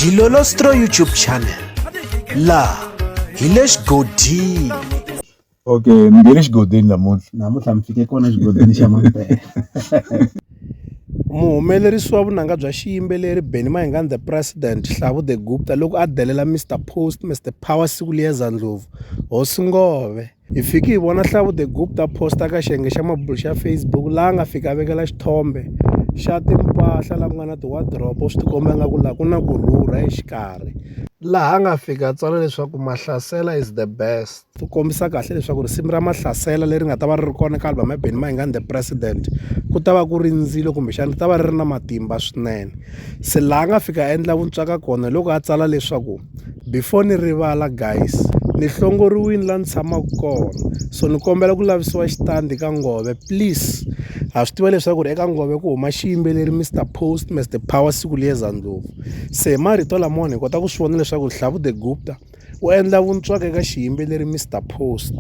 dilolostro youtube channel laha hi le xigodini okay ni nge le xigodini namuntlha namuntlha mi fike kona xigodini xa mampela muhumelerisi wa vunanga bya xiyimbeleri benny mahingan the president hlavu the gupta loko a delela mr post mr power siku liyeza ndlovu hosi ngove Hi fike hi vona Hlavu the Guk ta post-a ka xiyenge xa mabulo xa Facebook laha a nga fika a vekela xithombe xa timpahla laha ku nga na ti-wardrobe swi tikomba nga ku laha ku na ku rhurha exikarhi laha a nga fika a tsala leswaku mahlasela is the best ti kombisa kahle leswaku risimu ra mahlasela leri nga ta va ri ri kona ka album ya Benny Mayengani the president ku ta va ku ri ndzilo kumbexana ri ta va ri ri na matimba swinene se laha a nga fika a endla vuntswaka kona hi loko a tsala leswaku Before ni rivala guys ni hlongoriwini la ni tshamaku kona so ni kombela ku lavisiwa xitandi ka nghohe please ha swi tiva leswaku ri eka nghohe ku huma xiyimbeleri Mister Post Mister Power siku liya za ndlopfu se hi marito lamawani hi kota ku swi vona leswaku Hlavu the Gupta u endla vuntswaka eka xiyimbeleri Mister Post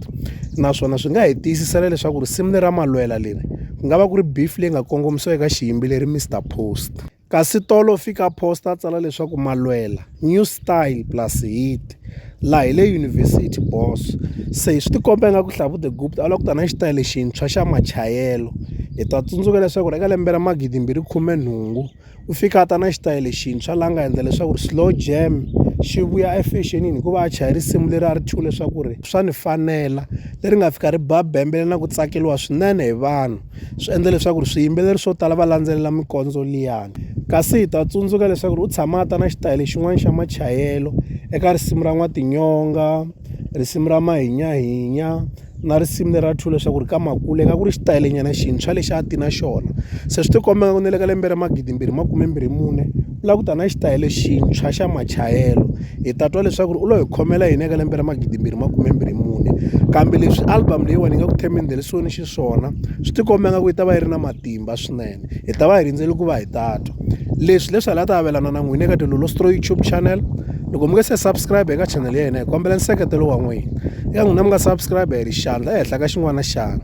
naswona swi nga hi tiyisisela leswaku risimu lera malwela leri ku nga va ku ri beef leyi nga kongomisiwa eka xiyimbeleri Mister Post. Kasi Tolo u fike a posta a tsala leswaku Malwela, new style plus hit. Laha hi le yunivhesiti boss. Se swi tikomba ingaku Hlavu the Gupta a lava ku ta na xitayili xintshwa xa machayelo. Hi ta tsundzuka leswaku eka lembe ra magidi mbirhi khume nhungu u fike a ta na xitayili xintshwa laha nga endla leswaku slow jam xi vuya efexenini hikuva a chaya risimu leri a ri thyiwe leswaku ri swa ni fanela leri nga fika ri ba bembele na ku tsakeriwa swinene hi vanhu. swi endla leswaku ri swiyimbeleri swo tala va landzelela mikondzo liyani kasi hi ta tsundzuka leswaku ri u tshama a ta na xitayele xin'wana xa machayelo eka risimu ra n'watinyonga risimu ra mahinyahinya na risimu leri ra two leswaku ri ka makule ka ku ri xitayilenyana xintshwa lexi a ti na xona se swi tikomba nga ku na le ka lembe ra magidimbirhi makume mbirhi mune U lava ku ta na xitayele xintshwa xa machayelo hi ta twa leswaku ri u lo hi khomela yini eka lembe ra magidimbirhi makumembirhi mune kambe leswi album leyiwani yi nga ku themendelisoni xiswona swi tikomba nga ku yi ta va yi ri na matimba swinene hi ta va hi rindzele ku va hi ta twa leswi leswi hala ta avelana na n'wina eka tilolo stro youtube channel loko mi nge se subscribe eka channel ya hina hi kombela nseketelo wa n'wina eka n'wina mi nga subscribe hi ri xandla ehenhla ka xin'wana na xana